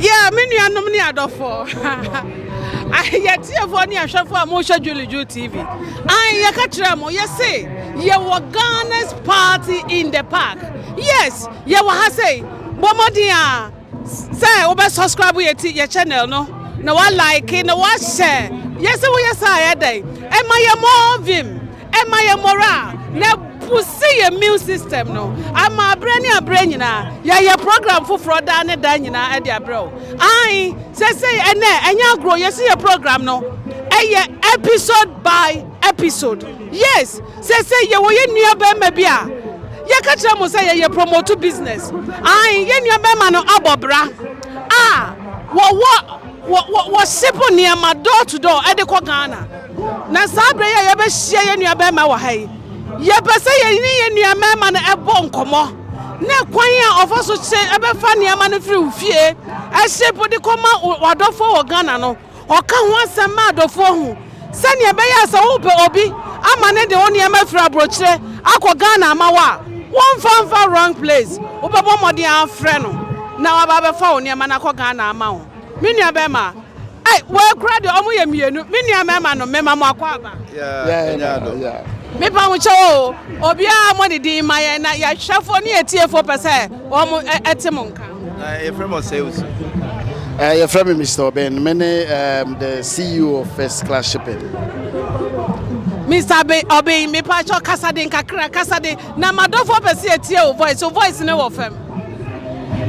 Yeah, me nuanom ne adɔfoɔ. Yɛtiefoɔ ne ahwɛfoɔ a mohwɛ Julie Ju TV. An yɛka kyerɛ mo yɛse yɛwɔ Ghana's party in the park. Yes, yɛwɔ ha sei. Bɔ mmɔden a Sɛ wo bɛ subscribe yɛ ti yɛ channel no na wa like na wa hyɛ yɛ sɛ wo yɛ saa yɛ dɛn ɛma yɛ more vim ɛma yɛ moral na ɛbusi yɛ immune system no ama abrɛ ne abrɛ nyinaa yɛ yɛ program foforɔ daa ne daa nyinaa ɛde abrɛ wo ae sɛsɛi ɛnɛ ɛnyɛ agorɔ yɛ si yɛ program no ɛyɛ episode by episode yes Seesei yɛwɔ yɛn nuabarima bi a yɛka kyerɛ mo sɛ yɛyɛ promote business. Aane, yɛn nuabarima no abɔ bra a wɔwɔ, wɔ, wɔ, wɔship nneɛma door to door ɛde kɔ Ghana. Na saa berɛ yi a yɛbɛhyia yɛn nuabarima wɔ ha yi, yɛpɛ sɛ yɛne yɛn nuabarima no ɛbɔ nkɔmmɔ, ne kwan a ɔfa so kye, ɛbɛfa nneɛma no firi wo fie, ɛship de kɔma w'adɔfoɔ wɔ Ghana no. Ɔka ho asɛm ma adɔfoɔ hu sɛdeɛ ɛbɛyɛ a sɛ wopɛ obi ama no de wo nneɛma afiri aburokyerɛ akɔ Ghana ama wo a, womfa mfa wrong place. Wobɛbɔ mmɔden afrɛ no na waba abɛfa wo nneɛma no akɔ Ghana ama wo. Me nua bɛrima, ei, wei koraa deɛ wɔn yɛ mmienu. Me nua mmarima nom, mema mo akɔ aba. Yeah, ɛnyɛ adɔ. Mepa mo kyɛw o, obiara mmɔ ne din mma yɛn na yɛn hwɛfoɔ ne yɛn tiefoɔ pɛ sɛ. wɔte mo nka? Yɛfrɛ me Ɔsɛe Osu. Yɛfrɛ me Mister Oben. Me ne um, the CEO of First Class Shipping. Mr. Be Oben, me pa cho kasa den kakra, kasa den. Na madofo pɛ se etie wo voice. Wo voice ne wɔ fam.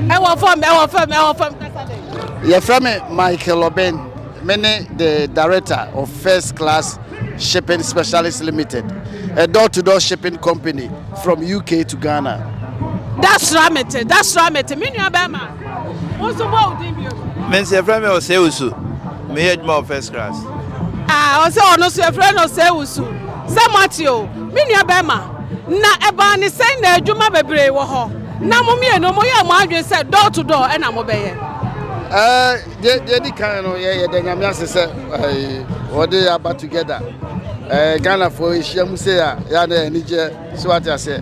Ɛwɔ fam, ɛwɔ fam, ɛwɔ fam kasa den. Yɛfrɛ me Michael Oben. Me ne the director of First Class Shipping. Shipping Specialist Limited, a door-to-door shipping company from UK to Ghana. Dasra mete, Dasra mete, me nua bɛrima. Wo nso bɔ wo din bio. Me nso yɛfrɛ me Ɔsɛe Wusu. Meyɛ adwuma wɔ first class. Ah, ɔsɛ ɔno nso yɛfrɛ no Ɔsɛe Wusu. Sɛ moate o, me nua bɛrima. Na ɛbaa ne sɛn na adwuma bebree wɔ hɔ. Na mo mmienu moyɛ mo adwene sɛ door to door ɛna mobɛyɛ. Eh, Deɛ deɛ di kan no yɛ yɛda nyame ase sɛ wɔde aba together ɛɛ ghanafoɔ ahyia mu sei a yɛa na anigyeɛ so ate aseɛ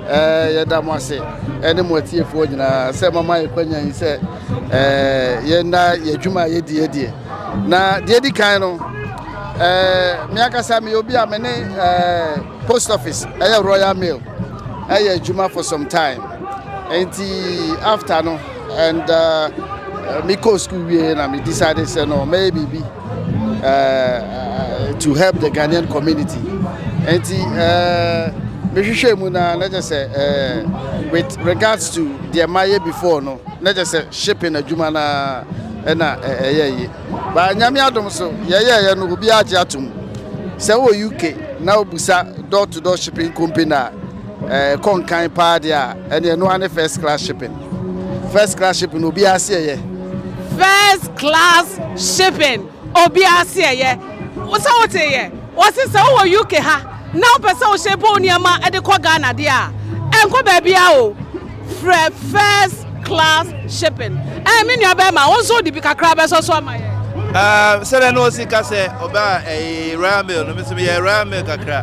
ɛɛ yɛda mo ase ɛne mo atiefoɔ nyinaa sɛ mama yɛ kwanya yi sɛ ɛɛ yɛnna yɛ adwuma a yɛdi adie na deɛ di kan no ɛɛ me ankasa meyɛ obi a me ne ɛɛ post office ɛyɛ royal mail ɛyɛ adwuma for some time nti after no and uh, me kɔ school wie na me decide sɛ no mɛyɛ biribi uh, to help the ghanaian community nti uh, mehwehwɛ mu na na kyɛ sɛ uh, with regards to deɛ mayɛ before no na kyɛ sɛ shipping adwuma no ɛna ɛyɛ yi ba nyame adom so yɛyɛɛyɛ no obiara gye atom sɛ wɔ uk na wobusa door to door shipping company a Ɛkɔ nkan paa deɛ a, ɛne ɛno ara ne first class shipping. First class shipping no obiara se ɛyɛ. First class shipping obiara se ɛyɛ. Sɛ wote yɛ, wɔse sɛ wowɔ UK ha na wopɛ sɛ wohyɛ bɔ nneɛma de kɔ Ghana deɛ a, ɛnkɔ baabiara o. Frɛ first class shipping. Ɛɛ me nua bɛrima wo nso wode bi kakra bɛsɔ so ama yɛn. Ah, sɛdeɛ na ɔsi ka sɛ ɔbaa ɛyi eh, royal mail no mesɛ meyɛ royal mail kakra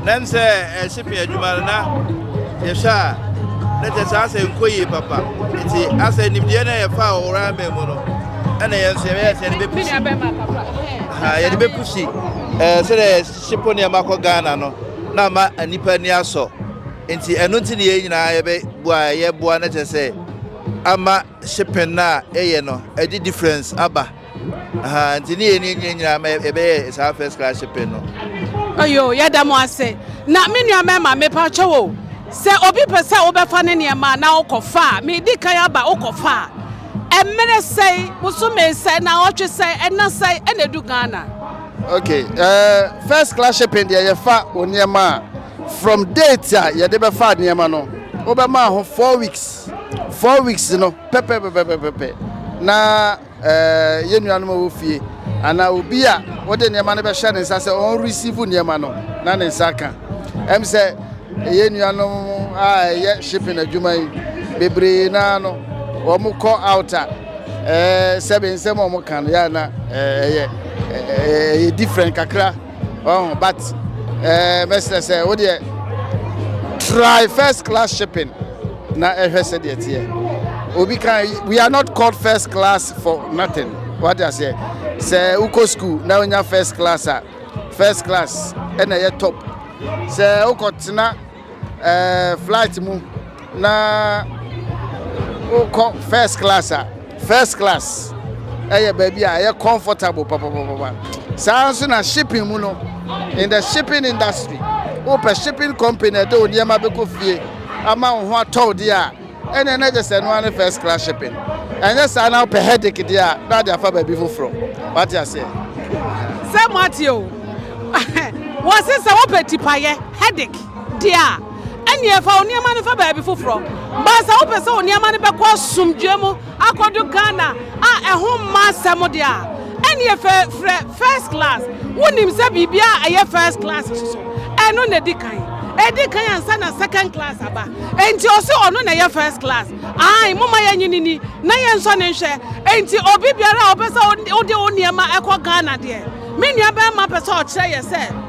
na m sɛ eh, shipping adwuma no na yɛhwɛ a na kyɛ saa sɛ nkɔ yie papa nti asɛ nimdeɛ no yɛfa a wɔ royal mail mu no ɛna yɛn nso yɛbɛyɛ sɛ yɛde bɛpusi yɛde bɛpusi eh, sɛdeɛ shippo nneɛma kɔ ghana no na ama nnipa ani asɔ Nti ɛno nti ne yɛn nyinaa yɛbɛ boa a yɛ boa no kyɛ sɛ ama shipping no a yɛ yɛ no ɛde difference aba ahaa nti ne yɛn yɛn nyinaa ma yɛbɛ yɛ saa first class shipping no. Oyo yɛ dɛ mo ase na me nua mɛma me pa kyɛw o sɛ obi pɛ sɛ wobɛ fa ne nneɛma na wokɔ fa a me di kan aba wokɔ fa a ɛmere sɛn bosome sɛn na ɔtwe sɛn ɛna sɛn ɛna edu Ghana. Okay ɛɛ uh, first class shipping deɛ yɛ fa o nneɛma a. From date a yɛde bɛfa nneɛma no wobɛmaa ho four weeks four weeks no pɛpɛpɛpɛpɛpɛ na ɛɛ yɛn nuanom a wɔ fie anaa obi a wode nneɛma no bɛhyɛ ne nsa sɛ ɔn receive nneɛma no na ne nsa ka ɛm sɛ yɛn nuanom a ɛyɛ shipping adwuma yi bebree naa no wɔn kɔ out a ɛɛ sɛbe nsɛm a wɔn ka no yɛ na ɛyɛ ɛyɛ different kakra. Oh, but eh, mɛsrɛ sɛ wo deɛ try first class shipping na ɛhwɛ sɛ deɛ teɛ obi kan we are not called first class for nothing wate aseɛ sɛ wokɔ school na wonya first class a first class ɛna ɛyɛ top sɛ wokɔtena ɛɛ flight mu na wokɔ first class a first class ɛyɛ baabi a ɛyɛ comfortable papapapa saa nso na shipping mu no in the shipping industry wopɛ shipping company ɛde wo nneɛma bɛkɔ fie ama wo ho atɔw deɛ a Ɛneɛ na kyɛ sɛ ɛno ara ne first class shipping. Ɛnyɛ saa na wopɛ headache deɛ a na ade afa baabi foforɔ. Wate aseɛ? Sɛ mo ate o. Wɔse sɛ wopɛ tipayɛ, headache, deɛ a, ɛneɛ fa wo nneɛma no fa baabi foforɔ. But sɛ wopɛ sɛ wo nneɛma no bɛkɔ asomdwoeɛ mu, Akɔdu Ghana a ɛho mma asɛm deɛ a, ɛnneɛ fɛ frɛ first class. Wonim sɛ biribiara a ɛyɛ first class nso so, ɛno na ɛdi kan. Ɛdi kan ansa na second class aba. Enti ɔse ɔno na ɛyɛ first class. Aane, momma yɛnye no nni na yɛnsɔ no nhwɛ. Enti obi biara a ɔpɛ sɛ ɔde wo nneɛma kɔ Ghana deɛ, me nuabarima pɛ sɛ ɔkyerɛ yɛ sɛ,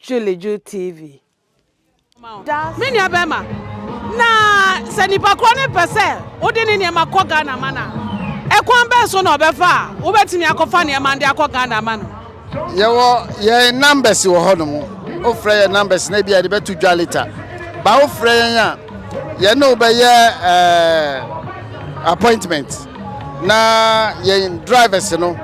Julie Ju TV da ase. Me nua bɛrima, na sɛ nipa korɔ no pɛ sɛ wode ne nneɛma kɔ Ghana ama no a, ɛkwan bɛn so na ɔbɛfa a wobɛtumi akɔfa nneɛma no de akɔ Ghana ama no? Yɛwɔ yɛn numbers wɔ hɔ nom. Wofrɛ yɛn numbers na ebi a yɛde bɛto dwa later. Ba wofrɛ yɛn a, yɛne wo bɛyɛ ɛɛ appointment. Na yɛn drivers no,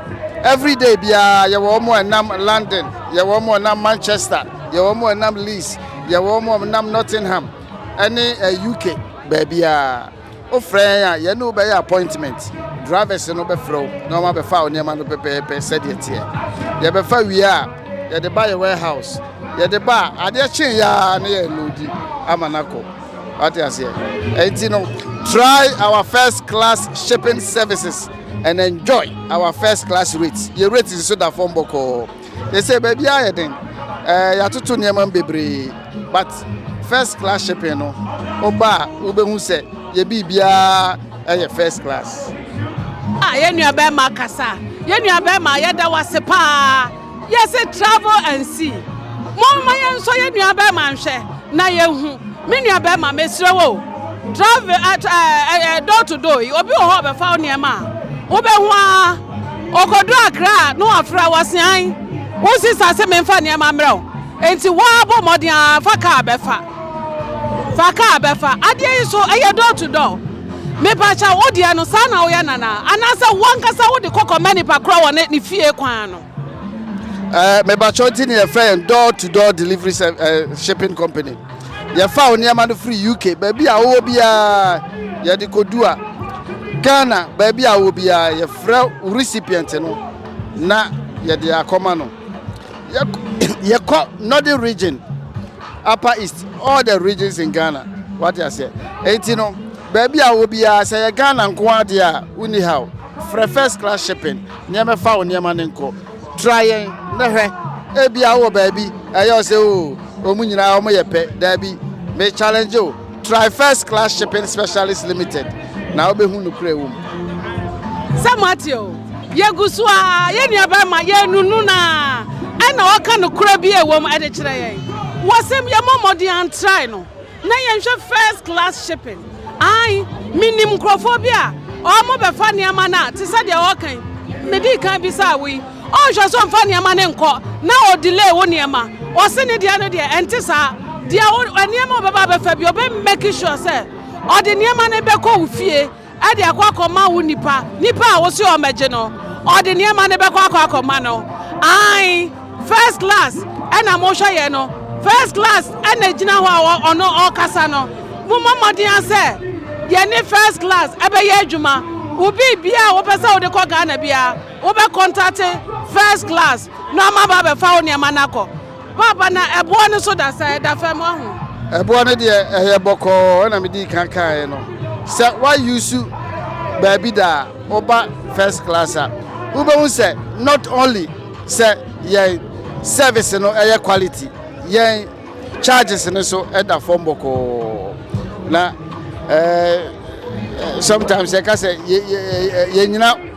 every day biara yɛwɔ wɔn a ɛnam London, yɛwɔ wɔn a ɛnam Manchester, yɛwɔ wɔn a ɛnam Leeds, yɛwɔ wɔn a ɛnam Nottingham, ɛne eh, UK baabiara. Wofrɛ yɛn a, yɛne wo bɛyɛ appointment. Drivers no bɛfrɛ wo na wɔn abɛfa wo nneɛma no pɛpɛɛpɛ sɛdeɛ teɛ. Yɛbɛfa wie a, yɛde ba yɛ warehouse. Yɛde ba a, adeɛ kyen yɛ ara na yɛloodi ama no akɔ. Wate aseɛ? Enti no, try our first class shipping services and enjoy our first class rates. Yɛ rates nso da fam bɔkɔɔ. Yɛ sɛ baabi a yɛ den, ɛɛ eh, yɛatoto nneɛma mu bebree, but first class shipping no, woba a wobɛhu sɛ yɛ biribiara ɛyɛ first class. Ah, yɛ nua bɛrima kasa. Yɛ nua bɛrima, yɛda wase paa. Yɛse travel and see. Momma yɛnsɔ yɛn nuabɛrima nhwɛ na yɛnhu. Me nuabɛrima, mesrɛ wo o, travel at ɛɛ ɛɛ door to door yi, obi wɔ hɔ a ɔbɛfa wo nneɛma a, wobɛhu ara. Ɔkɔduru Accra a, na wafrɛ wo se, Ae, wo sista se memfa nneɛma mmrɛ wo, enti wo ara bɔ mmɔden ara fa kaa bɛfa. Fa kaa bɛfa. Adeɛ yi so ɛyɛ door to door? Mepakyɛw wo deɛ no saa na woyɛ Nana? Anaasɛ wo ankasa wode kɔ kɔma nipa korɔ wɔ ne ne fie kwan ano? Ɛɛ mepakyɛw nti na yɛfrɛ yɛn door to door delivery sɛ ɛɛ shipping company. Yɛfa wo nneɛma no firi UK baabi a wowɔ biara yɛde kɔdu a Ghana baabi a wowɔ biara yɛfrɛ wo recipient no na yɛde akɔma no. yɛkɔ northern region upper east all the regions in ghana wate aseɛ ɛnti no baabi a wɔ biara sɛ yɛ ghana nko adeɛ a wonni ha o frɛ first class shipping nneɛma fa wo nneɛma no nkɔ tra yɛn na hwɛ ebia wɔ baabi ɛyɛ ɔsɛ o wɔn nyinaa wɔn yɛ pɛ daabi me challenge o Try First Class Shipping Specialist Limited na wobɛhu nokorɛ wɔ mu. Sɛ moate o, yɛgu so a yɛn nuabarima yɛnunu no a ɛna ɔka nokorɛ bi a ɛwɔ mu ɛde kyerɛ yɛn. Wɔsɛm yɛmmɔ mmɔden antrae no na yɛnhwɛ First Class Shipping. Ae, menim nkurɔfoɔ bi a wɔbɛfa nneɛma no a te sɛ deɛ ɔreka yi, medii kan bisaa wo yi, Ɔnhwɛ so mfa nneɛma no nkɔ na ɔ delay wo nneɛma. Ɔse ne deɛ no deɛ ɛnte saa. Deɛ wo nneɛma a ɔbɛba abɛfa biara ɔbɛ make sure sɛ ɔde nneɛma no bɛkɔ wo fie de akɔ akɔma wo nipa. Nipa a wose ɔmmɛgye no, ɔde nneɛma no bɛkɔ akɔ akɔma no. Aane, first class na mohwɛ yɛ no. First class na ɛgyina hɔ a ɔno ɔrekasa no. Mommɔ mmɔden ara sɛ yɛne first class bɛyɛ adwuma. Wo biribiara a wopɛ sɛ wode kɔ Ghana biara, Wobɛ kɔntate first class na ɔma ba bɛfa wo neɛma na kɔ. Paapa na ɛboɔ no so da sɛn? Ɛda fam wahu. Ɛboɔ no deɛ ɛyɛ bɔkɔɔ ɛna me dii kan kaeɛ no. Sɛ wa use baabi da a woba first class a wobɛhu sɛ not only sɛ yɛn service no ɛyɛ quality yɛn charges no so ɛda fam bɔkɔɔ na ɛɛ eh, eh, sometimes yɛka sɛ yɛnyina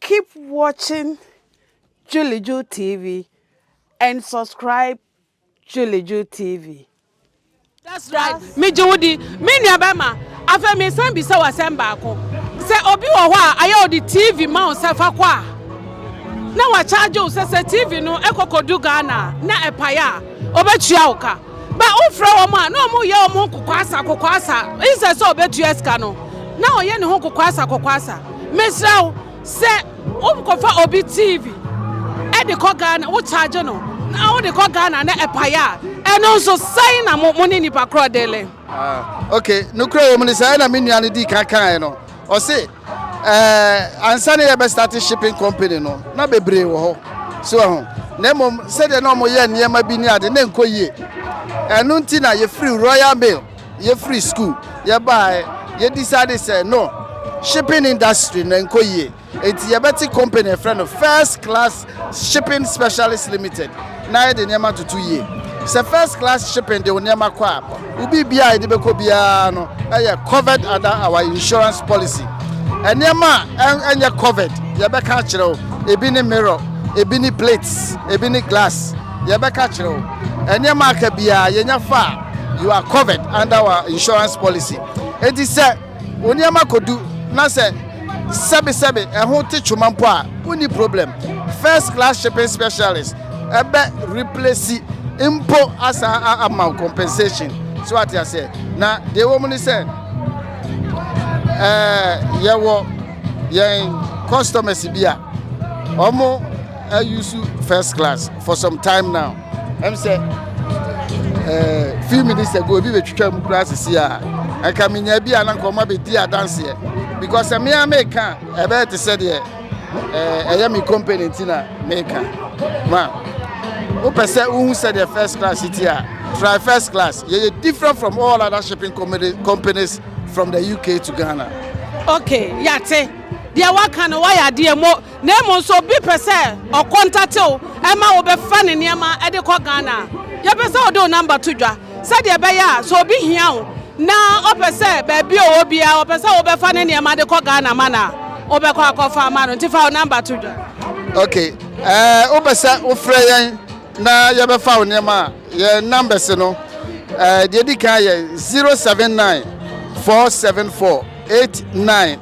Keep watching Juliju TV and subscribe Juliju TV. That's right. Me gye wo di. Me nua bɛma. Afei me san bisa wo asɛm baako. Sɛ obi wɔ hɔ a ayɛ ɔde TV ma wo sɛ fa kɔ a na wakyagye wo sɛ sɛ TV no ɛkɔkɔdu Ghana na ɛpae a ɔbɛtua wo ka. Ba wofrɛ wɔn a na wɔn yɛ wɔn ho kokoasa kokoasa insɛ sɛ ɔbɛtua sika no na ɔyɛ ne ho kokoasa kokoasa mesrɛ wo sɛ wokɔfa obi tv ɛde kɔ Ghana wo charge no na wode kɔ Ghana na ɛpaeɛ a ɛno nso sɛn na mo ne nipa korɔ dele. Ah, okay, no kura wɔm ne saa na me nua no di kan kaeɛ no. Ɔse eh ansa na yɛbɛ starte shipping company no na bebree wɔ hɔ so wahu na mmom sɛdeɛ na wɔyɛ nneɛma bi ne ade na ɛnkɔ yie ɛno nti na yɛfiri Royal Mail yɛfiri school yɛbaeɛ yɛ decide sɛ no shipping industry no ɛnkɔ yie nti yɛbɛte company a yɛfrɛ no First Class Shipping Specialist Limited na yɛde nneɛma toto yie. Sɛ First Class Shipping de wo nneɛma kɔ a, wo biribiara a yɛde bɛkɔ biara no yɛ covered under our insurance policy. Nneɛma a ɛnyɛ covered, yɛbɛka akyerɛ wo. Ebi ne mirror, ebi ne plates, ebi ne glass. Yɛbɛka akyerɛ wo. Nneɛma a aka biara, yɛnya fa a, you are covered under our insurance policy. Enti sɛ. Wo nneɛma kɔdu na sɛ sɛbesɛbe ɛho te twoma mpo a, wonni problem. First class shipping specialist ɛbɛ replace mpo asan a ama wo compensation. So ate aseɛ? Na deɛ ɛwɔ mu ne sɛ ɛɛ yɛwɔ yɛn customers bi a wɔn ayusu first class for some time now. ɛm sɛ eh, few minutes ago obi bɛtwitwa mu koraa sisi a ɛka menya bi a na nka ɔma bɛdi adanseɛ because sɛ mea meka ɛbɛyɛ te sɛ deɛ eh, ɛyɛ me company nti na meka ma wopɛ sɛ wohu sɛdeɛ first class ti a try first class yɛyɛ different from all other shipping companies from the uk to ghana okay yɛate deɛ woaka no woayɛ adeɛ mo Na mmom sɛ obi pɛ sɛ ɔkɔ ntatew ma wobɛfa ne nneɛma de kɔ Ghana a, yɛpɛ sɛ wode wo namba to dwa sɛdeɛ ɛbɛyɛ a sɛ obi hia wo na ɔpɛ sɛ baabi a ɔwɔ biara ɔpɛ sɛ wobɛfa ne nneɛma de kɔ Ghana ma no a, wobɛkɔ akɔfa ama no. Nti fa wo namba to dwa. Ok, ɛɛ wopɛ sɛ wofrɛ yɛn na yɛbɛfa wo nneɛma a, yɛn numbers no, ɛɛ deɛ di kan yɛ 079 474 89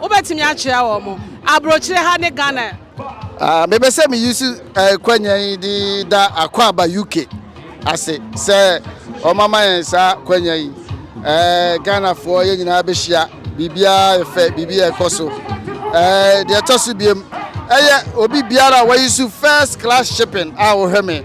Wobɛtumi akyerɛ wɔn mo aburokyire ha ne Ghana? Ah, mepɛ sɛ me use eh, kwanya yi de da akwaaba UK ase sɛ ɔmama yɛn saa kwanya yi. Eh, Ghanafoɔ yɛn nyinaa bɛhyia, biribiara yɛ fɛ, biribi yɛ kɔ so. Eh, deɛ ɛtɔ so biem, ɛyɛ obi biara a wayi so first class shipping a wɔhwɛ me.